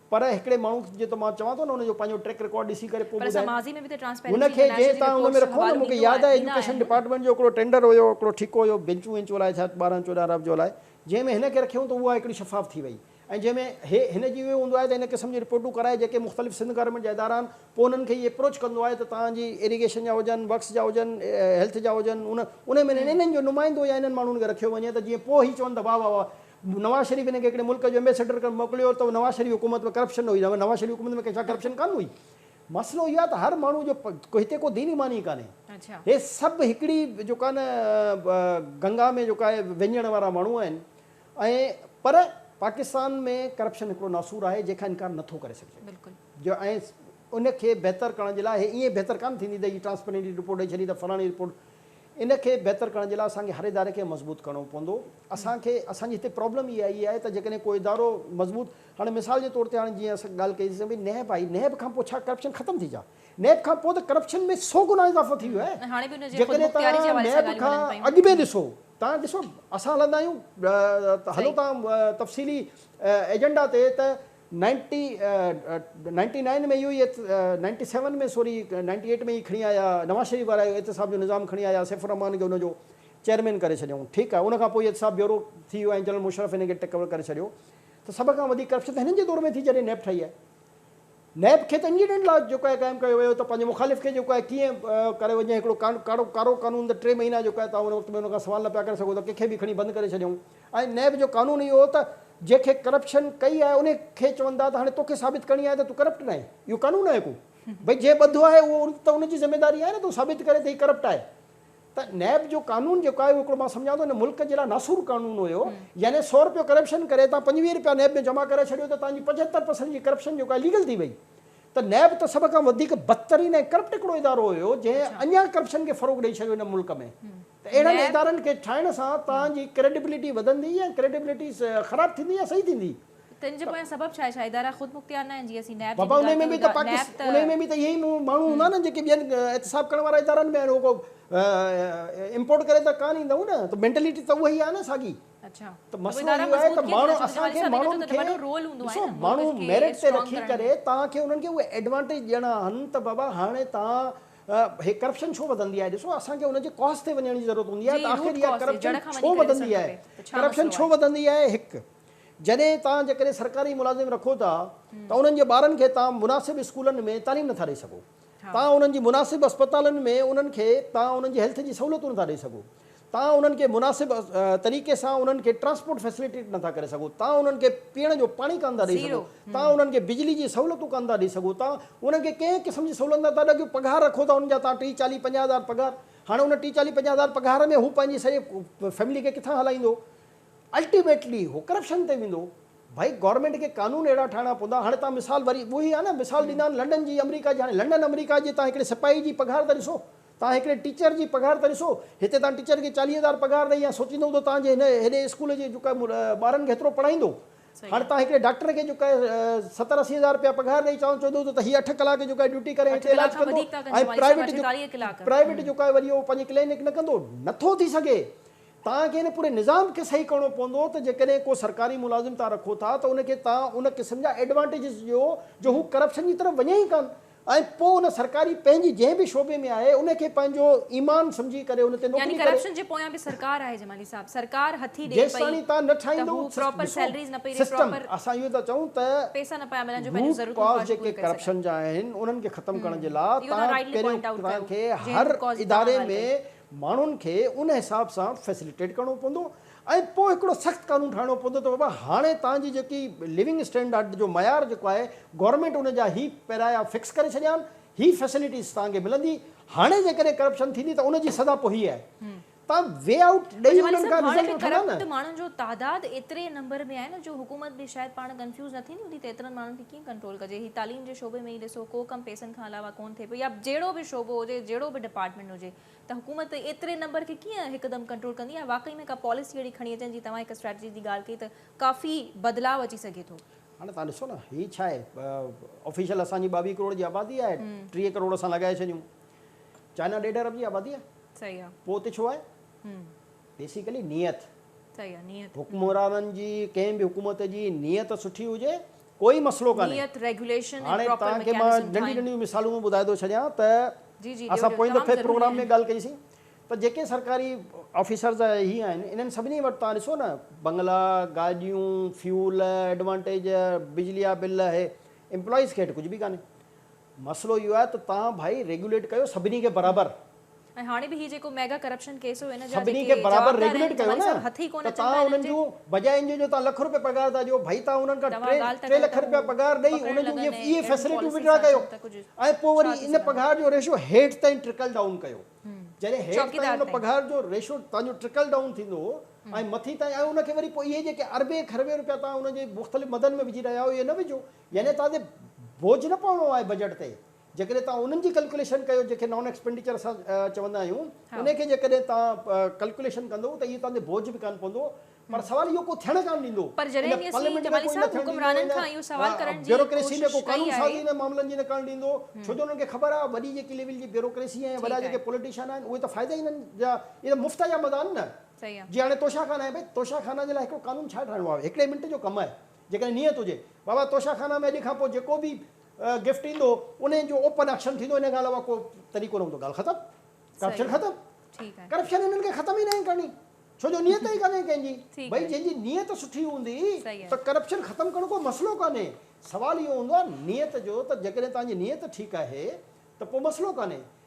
پر هڪڙي ماڻهو جي ته مان چوان ٿو نه ان جو پنهنجو ٽريڪ رڪارڊ ڏسي ڪري پوء ٻڌايو هن کي جنهن تان ان ۾ رکو نه مون کي ياد آهي ايجوڪيشن ڊپارٽمينٽ جو هڪڙو ٽينڊر هيو هڪڙو ٺيڪو هيو بينچون وينچون لاء ڇا ٻارهن چوڏهن ارب جو لاء جنهن ۾ هن کي رکيون ته اها هڪڙي شفاف ٿي وئي ۽ جنهن ۾ هي هن جي اهو هوندو آهي ته ان قسم جون رپورٽون ڪرائي جيڪي مختلف سنڌ گورنمينٽ جا ادارا آهن پوء انهن کي هي اپروچ ڪندو آهي ته توهان جي ايريگيشن جا هجن ورڪس جا هجن هيلٿ جا هجن ان ان ۾ انهن جو نمائندو يا انهن ماڻهن کي رکيو وڃي ته جيئن پوء هي چون ته واهه واهه واهه نواز شريف هن کي هڪڙي ملڪ جو ايمبيسيڊر ڪري موڪليو ته نواز شريف حڪومت ۾ ڪرپشن نه هئي نواز شريف حڪومت ۾ ڪنهن شايد ڪرپشن ڪانه هئي مسئلو اهو آهي ته هر ماڻهو جو هتي ڪو دين ايمان ئي ڪانهي هي سڀ هڪڙي جيڪا نه گنگا ۾ جيڪا آهي وهنجڻ وارا ماڻهو آهن ۽ پر پاڪستان ۾ ڪرپشن هڪڙو ناسور آهي جنهن کان انڪار نٿو ڪري سگهجي جو ۽ ان کي بهتر ڪرڻ جي لاء هي ائين بهتر ڪانه ٿيندي ته هي ٽرانسپرينٽ رپورٽ ڏئي ڇڏي ته فلاڻي رپورٽ ان کي بهتر ڪرڻ جي لاء اسان کي هر اداري کي مضبوط ڪرڻو پوندو. اسان کي اسان جي هتي پرابلم اها ئي آهي ته جيڪڏهن ڪو ادارو مضبوط هاڻي مثال جي طور تي هاڻي جيئن اسان ڳالهه ڪئي سين ڀئي نيب آئي نيب کان پوء ڇا ڪرپشن ختم ٿي جا نيب کان پوء ته ڪرپشن ۾ سو گنا اضافو ٿي ويو آهي جيڪڏهن تان نيب کان اڳ ۾ ڏسو تان ڏسو اسان هلندا آهيون ته هلو تان تفصيلي ايجنڊا تي ته نائنٽي نائنٽي نائن ۾ اهو ئي eight ninety seven ۾ sorry ninety eight ۾ ئي کڻي آيا نواز شريف وارا اهو احتساب جو نظام کڻي آيا سيف الرحمان کي ان جو چيئرمين ڪري ڇڏيائون ٺيڪ آهي ان کان پوء احتساب بيورو ٿي ويو ۽ جنرل مشرف هن کي ٽيڪ اوور ڪري ڇڏيو ته سڀ کان وڌيڪ ڪرپشن ته هنن جي دور ۾ ٿي جڏهن نيب ٺهي آهي نيب کي ته انڊيڊنٽ لا جيڪو آهي قائم ڪيو ويو ته پنهنجي مخالف کي جيڪو آهي ڪيئن ڪري وڃي هڪڙو ڪارو قانون ته ٽي مهينا جيڪو آهي تون ان وقت ۾ ان کان سوال نه پيا ڪري سگهو ته ڪنهن کي به کڻي بند ڪري ڇڏيائون. ۽ نيب جو قانون اهو هو ته جنهن کي ڪرپشن ڪئي آهي انهي کي چون ٿا ته هاڻي توکي ثابت ڪرڻي آهي ته تون ڪرپٽ ناهين اهو قانون آهي ڪو ڀئي جنهن ٻڌو آهي اهو ته ان جي ذميداري آهي نه ته هو ثابت ڪري ته هي ڪرپٽ آهي ته نيب جو قانون جيڪو آهي اهو هڪڙو مان سمجهان ٿو ان ملڪ جي لاء ناسور قانون هيو يعني سؤ رپيو ڪرپشن ڪري توهان پنجويهه رپيا نيب ۾ جمع ڪرائي ڇڏيو ته توهان جي پنجهتر پرسنٽ جي ڪرپشن جيڪو آهي ليگل ٿي وئي ته نيب ته سڀ کان وڌيڪ بدترين ۽ ڪرپٽ هڪڙو ادارو هيو جنهن اڃان ڪرپشن کي فروغ ڏئي ڇڏيو هن ملڪ ۾ ته اهڙن ادارن کي ٺاهڻ سان توهان جي ڪريڊبلٽي وڌندي يا ڪريڊبلٽي خراب ٿيندي يا صحيح ٿيندي؟ تنهن جي پويان سبب ڇا آهي؟ ڇا ادارا خود مختيار ناهن؟ جيئن اسين نيب جي به ڳالهه ڪيون ٿا، نيب ته. انهي ۾ به ته اهي ئي ماڻهو هوندا نه جيڪي ٻين احتساب ڪرڻ وارا ادارن ۾ آهن اهو ڪو امپورٽ ڪري ته ڪانه ايندائون نه ته مينٽلٽي ته اهي ئي آهي نه ساڳي ته مسئلو اهو آهي ته ماڻهو اسان کي ماڻهن کي ڏسو ماڻهو ميرٽ تي رکي ڪري توهان کي انهن کي اهي ايڊوانٽيج ڏيڻا آهن ته بابا هاڻي توهان هي ڪرپشن ڇو وڌندي آهي ڏسو اسان کي ان جي ڪاز تي وڃڻ جي ضرورت هوندي آهي ته آخر اها ڪرپشن ڇو وڌندي آهي ڪرپشن ڇو وڌندي آهي هڪ جڏهن توهان جيڪڏهن سرڪاري ملازم رکو ٿا ته انهن جي ٻارن کي توهان مناسب اسڪولن ۾ تعليم نٿا ڏئي سگهو توهان انهن جي مناسب اسپتالن ۾ انهن کي توهان انهن جي هيلٿ جي سهولتون نٿا ڏئي سگهو توهان انهن کي مناسب طريقي سان انهن کي ٽرانسپورٽ فيسليٽيٽ نه ٿا ڪري سگهو، توهان انهن کي پيئڻ جو پاڻي ڪانه ٿا ڏئي سگهو، توهان انهن کي بجلي جي سهولتون ڪانه ٿا ڏئي سگهو، توهان انهن کي ڪنهن قسم جي سهولت نه ٿا ڏيو، پگهار رکو ٿا انهن جا توهان ٽيهه چاليهه پنجاهه هزار پگهار، هاڻي ان ٽيهه چاليهه پنجاهه هزار پگهار ۾ هو پنهنجي سڄي فيملي کي ڪٿان هلائيندو، الٽيميٽلي هو ڪرپشن تي ويندو، ڀائي گورنمينٽ کي قانون اهڙا ٺاهڻا پوندا، هاڻي توهان مثال وري اهي آهي نه مثال ڏيندا آهن لنڊن جي آمريڪا جي، هاڻي لنڊن آمريڪا جي توهان هڪڙي سپاهي جي پگهار ته ڏسو، توهان هڪڙي ٽيچر جي پگهار ته ڏسو. هتي توهان ٽيچر کي چاليهه هزار پگهار ڏئي يا سوچيندو هوندو توهان جي هن هيڏي اسڪول جي جيڪو ٻارن کي هيترو پڙهائيندو. هاڻ توهان هڪڙي ڊاڪٽر کي جيڪو آهي ستر اسي هزار رپيا پگهار ڏئي چوان چوندو هوندو ته هي اٺ ڪلاڪ جيڪو آهي ڊيوٽي ڪري هتي علاج ڪندو ۽ پرائيويٽ جو پرائيويٽ جيڪو آهي وري اهو پنهنجي ڪلينڪ نه ڪندو. نه ٿو ٿي سگهي. توهان کي هن پوري نظام کي صحيح ڪرڻو پوندو ته جيڪڏهن ڪو سرڪاري ملازم توهان رکو ٿا ته ان کي توهان ان قسم جا ايڊوانٽيجز ڏيو جو هو ڪرپشن جي طرف وڃي ئي ڪانه. ۽ پوء ان سرڪاري پنهنجي جنهن به شعبي ۾ آهي ان کي پنهنجو ايمان سمجهي ڪري ان تي نوڪري ڪري. يعني ڪرپشن جي پويان به سرڪار آهي جمالي صاحب سرڪار هٿي ڏي پئي ته هو پراپر سيلريز نه پئي ڏي پراپر پيسا نه پيا ملن جو پنهنجون ضرورتون پورا ڪري سگهن. ڪرپشن جا آهن انهن کي ختم ڪرڻ جي لاء تهان پهريون تهان کي هر اداري ۾ ماڻهن کي ان حساب سان فيسليٽيٽ ڪرڻو پوندو ۽ پوء هڪڙو سخت قانون ٺاهڻو پوندو ته بابا هاڻي توهان جي جيڪي ليونگ اسٽينڊارڊ جو معيار جيڪو آهي گورنمينٽ ان جا هي پيرايا فڪس ڪري ڇڏيا آهن هي فيسليٽيز توهان کي ملندي هاڻي جيڪڏهن ڪرپشن ٿيندي ته ان جي سزا پوء هي آهي توهان وي آئوٽ ڏئي انهن کان رزلٽ وٺندا نه. ڪرپٽ ماڻهن جو تعداد ايتري نمبر ۾ آهي نه جو حڪومت به شايد پاڻ ڪنفيوز نه ٿيندي هوندي ته ايترن ماڻهن کي ڪيئن ڪنٽرول ڪجي هي تعليم جي شعبي ۾ ئي ڏسو ڪو ڪم پيسن کان علاوه ڪون ٿئي پيو يا جهڙو به شعبو هجي جهڙو به ڊپارٽمينٽ هجي ته حڪومت ايتري نمبر کي ڪيئن هڪدم ڪنٽرول ڪندي يا واقعي ۾ ڪا پاليسي اهڙي کڻي اچن جي توهان هڪ اسٽريٽجي جي ڳالهه ڪئي ته ڪافي بدلاء اچي سگهي ٿو. هاڻي توهان ڏسو نه هي ڇا آهي آفيشل اسان جي ٻاويهه ڪروڙ جي آبادي آهي ٽيهه ڪروڙ اسان لڳائي ڇڏيون چائنا ڏيڍ ارب جي آبادي آهي صحيح آهي پوء اتي ڇو آهي بيسيڪلي نيت صحيح آهي نيت حڪمرانن جي ڪنهن به حڪومت جي نيت سٺي هجي ڪوئي مسئلو ڪانهي. هاڻي توهان کي مان ننڍيون ننڍيون مثالون ٻڌائي ٿو ڇڏيان ته اسان پوئين دفعي پروگرام ۾ ڳالهه ڪئي سين ته جيڪي سرڪاري آفيسرز ۽ هي آهن انهن سڀني وٽ توهان ڏسو نه بنگلا، گاڏيون، فيول، ايڊوانٽيج، بجلي جا بل اهي امپلائيز کي هيٺ ڪجهه به ڪانهي. مسئلو اهو آهي ته توهان ڀائي ريگيوليٽ ڪيو سڀني کي برابر. ۽ هاڻي به هي جيڪو ميگا ڪرپشن ڪيس هو ان جا سڀني جيڪي کي برابر جوابدار ريگوليٽ آهن ڪيو تماري نه صاحب هٿ ئي ڪونه ته تان اچن پيا انهن انهن جي جون بجاء انجو جو تان لک روپيه پگهار ٿا ڏيو ڀئي تان انهن کان توهان ٽي ڳالهه ته ٽي ڪيو لک ته روپيه هو پگهار ڏئي پڪڙڻ انهن جون لڳن اهي ۽ اهي اهڙيون فيسليٽيون پاليسيز وڊرا ٿا ڪيو ڪن ته ڪجهه ۽ پوء ڇا وري ٿي ان سگهندو پگهار جو ريشو هيٺ تائين ٽرڪل ڊائون ڪيو جڏهن هيٺ تائين چوڪيدار ان تائين پگهار جو ريشو تان جو ٽرڪل ڊائون ٿيندو هو ۽ مٿي تائين ۽ ان کي وري پوء اهي جيڪي اربين کربين روپيا تان انهن جي مختلف مدن ۾ وجهي رهيا آهيو اهي نه وجهو يعني تان تي بوجهه نه پوڻو آهي بجيٽ تي جيڪڏهن توهان انهن جي ڪلڪوليشن ڪيو جنهن کي نان ايڪسپينڊيچر اسان چوندا آهيون انهي کي جيڪڏهن توهان ڪلڪوليشن ڪندو ته اهو توهان تي بوجهه به ڪانه پوندو پر سوال اهو ڪو ٿيڻ ڪانه ڏيندو پر جڏهن به اسين جمالي صاحب حڪمرانن کان اهو سوال ڪرڻ جي ڪوشش ڪئي آهي انهن معاملن جي نه ڪرڻ ڏيندو ڇو جو انهن کي خبر آهي وڏي جيڪي ليول جي بيوروڪريسي ۽ وڏا جيڪي پوليٽيشن آهن اهي ته فائدا ئي انهن جا اهي ته مفت جا مزا آهن نه جي هاڻي توشا خانه آهي ڀئي توشا خانه جي لاء هڪڙو قانون ڇا ٺاهڻو آهي هڪڙي منٽ جو ڪم آهي جيڪڏهن نيت هجي بابا توشا خانه ۾ اڄ کان پوء جيڪو به گفٽ ايندو انهن جو اوپن اڪشن ٿيندو انهن کان علاوه ڪو طريقو نه هوندو ڳالهه ختم ڪرپشن ختم ڪرپشن هنن کي ختم ئي ناهي ڪرڻي ڇو جو نيت ئي ڪانهي ڪنهن جي ڀئي جنهن جي نيت سٺي هوندي ته ڪرپشن ختم ڪرڻ ڪو مسئلو ڪانهي سوال اهو هوندو آهي نيت جو ته جيڪڏهن توهان جي نيت ٺيڪ آهي ته پوء مسئلو ڪانهي